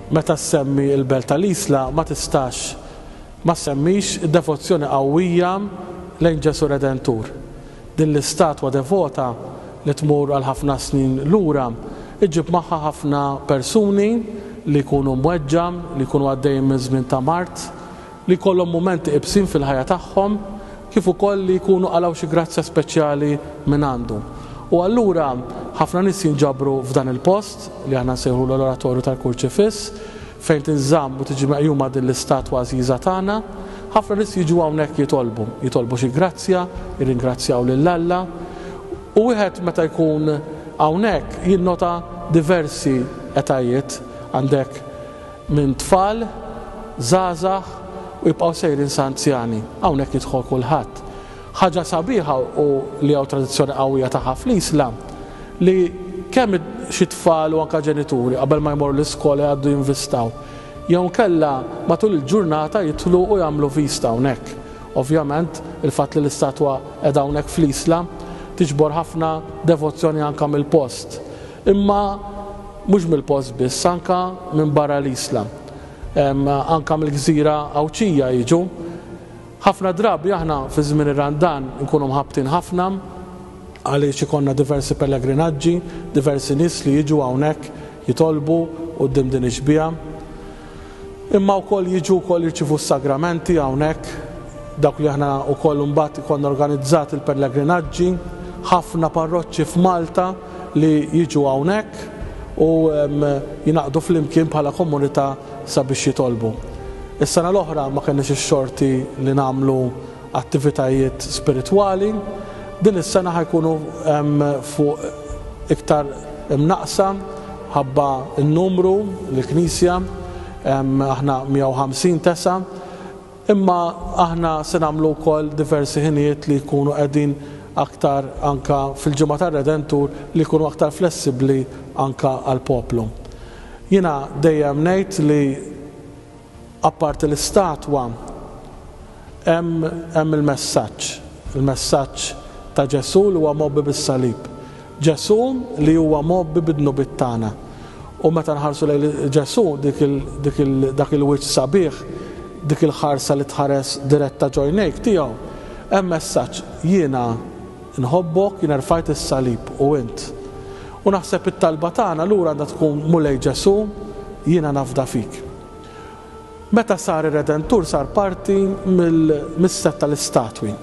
Meta ssemmi l-belt tal-Isla ma tistax ma ssemmix id-devozzjoni qawwija lejn Ġesù Redentur. Din l-istatwa devota li tmur għal ħafna snin lura ġġib magħha ħafna persuni li jkunu mweġġa, li jkunu għaddejjin minn żmien ta' mard, li jkollhom mumenti iebsin fil-ħajja tagħhom kif ukoll li jkunu qalgħu xi grazzja speċjali mingħandu. U allura ħafna nies jinġabru f'dan il-post, li aħna nsejħulu l-Oratorju tal-Kurċifiss, fejn tinżamm u tiġi meqjuma din l-istatwa għażiża tagħna. Ħafna nies jiġu hawnhekk jitolbu, jitolbu xi grazzja, jirringrazzjaw lil Alla. U wieħed meta jkun hawnhekk jinnota diversi etajiet, għandek minn tfal, żgħażagħ u jibqgħu sejrin sa anzjani. Hawnhekk jidħol kulħadd. Ħaġa sabiħa u li hawn tradizzjoni qawwija tagħha fl-Islam li kemm xi tfal u anke ġenituri qabel ma jmorru l-iskola jgħaddu jinvistaw jew inkella matul il-ġurnata jidħlu u jagħmlu vista hawnhekk. Ovvjament, il-fatt li l-istatwa qiegħda hawnhekk fl-Islam tiġbor ħafna devozzjoni anke mill-post. Imma mhux mill-post biss, anke minn barra l-isla. Anke mill-gżira Għawdxija jiġu. Ħafna drabi aħna fi żmien ir-Randan inkunu mħabbtin ħafna għaliex ikollna diversi pellegrinaġġi, diversi nies li jiġu hawnhekk jitolbu quddiem din ix-xbieha. Imma wkoll jiġu wkoll jirċievu s-sagramenti hawnhekk, dawk li aħna wkoll imbagħad ikollna organizzati l-pellegrinaġġi, ħafna parroċċi f'Malta li jiġu hawnhekk u jingħaqdu flimkien bħala komunità sabiex jitolbu. Is-sena l-oħra ma kenniex ix-xorti li nagħmlu attivitajiet spiritwali, din is-sena ħa jkunu fuq iktar imnaqqsa mħabba n-numru li l-Knisja, aħna 150 tesa', imma aħna se nagħmlu wkoll diversi ħinijiet li jkunu qegħdin aktar anke fil-Ġimgħa tar-Redentur li jkunu aktar flessibbli anke għall-poplu. Jiena dejjem ngħid li. Apparti l-istatwa, hemm hemm il-messaġġ, il-messaġġ ta' Ġesù li huwa mgħobbi bis-salib. Ġesù li huwa mgħobbi bid-dnubiet tagħna. U meta nħarsu lejn Ġesù, dik il, dik il, dak il-wiċċ sabiħ, dik il-ħarsa li tħares diretta ġo għajnejk tiegħu, hemm messaġġ, jiena, Inħobbok, jiena rfajt is-salib u int. U naħseb it-talba tagħna allura għandha tkun, Mulej Ġesù, jiena nafda fik. Meta sar ir-Redentur sar parti mis-sett tal-istatwi.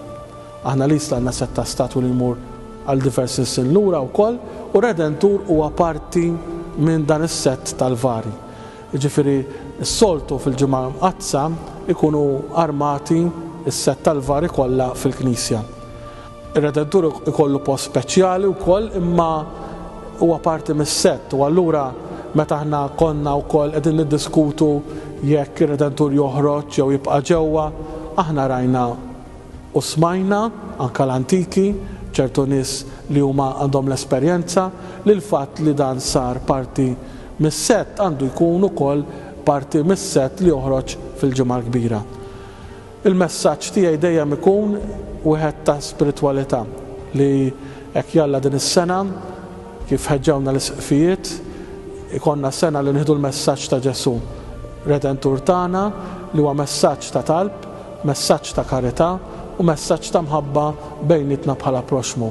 Aħna l-Isla għandna sett ta' statwi li jmur għal diversi snin lura wkoll u r-Redentur huwa parti minn dan is-sett tal-vari. Jiġifieri s-soltu fil-Ġimgħa Mqaddsa jkunu armati s-sett tal-vari kollha fil-knisja. Ir-Redentur ikollu post speċjali wkoll imma huwa parti mis-sett u allura meta aħna konna wkoll qegħdin niddiskutu jekk ir-Redentur joħroġ jew jibqa' ġewwa, aħna rajna u smajna, anke l-antiki, ċertu nies li huma għandhom l-esperjenza, li l-fatt li dan sar parti mis-sett għandu jkun ukoll parti mis-sett li joħroġ fil-Ġimgħa l-Kbira. Il-messaġġ tiegħi dejjem ikun wieħed ta' spiritwalità li hekk jalla din is-sena, kif ħeġġewna l-Isqfijiet, ikollna sena li nieħdu l-messaġġ ta' Ġesù, Redentur tagħna, li huwa messaġġ ta' talb, messaġġ ta' karità u messaġġ ta' mħabba bejnietna bħala proxxmu.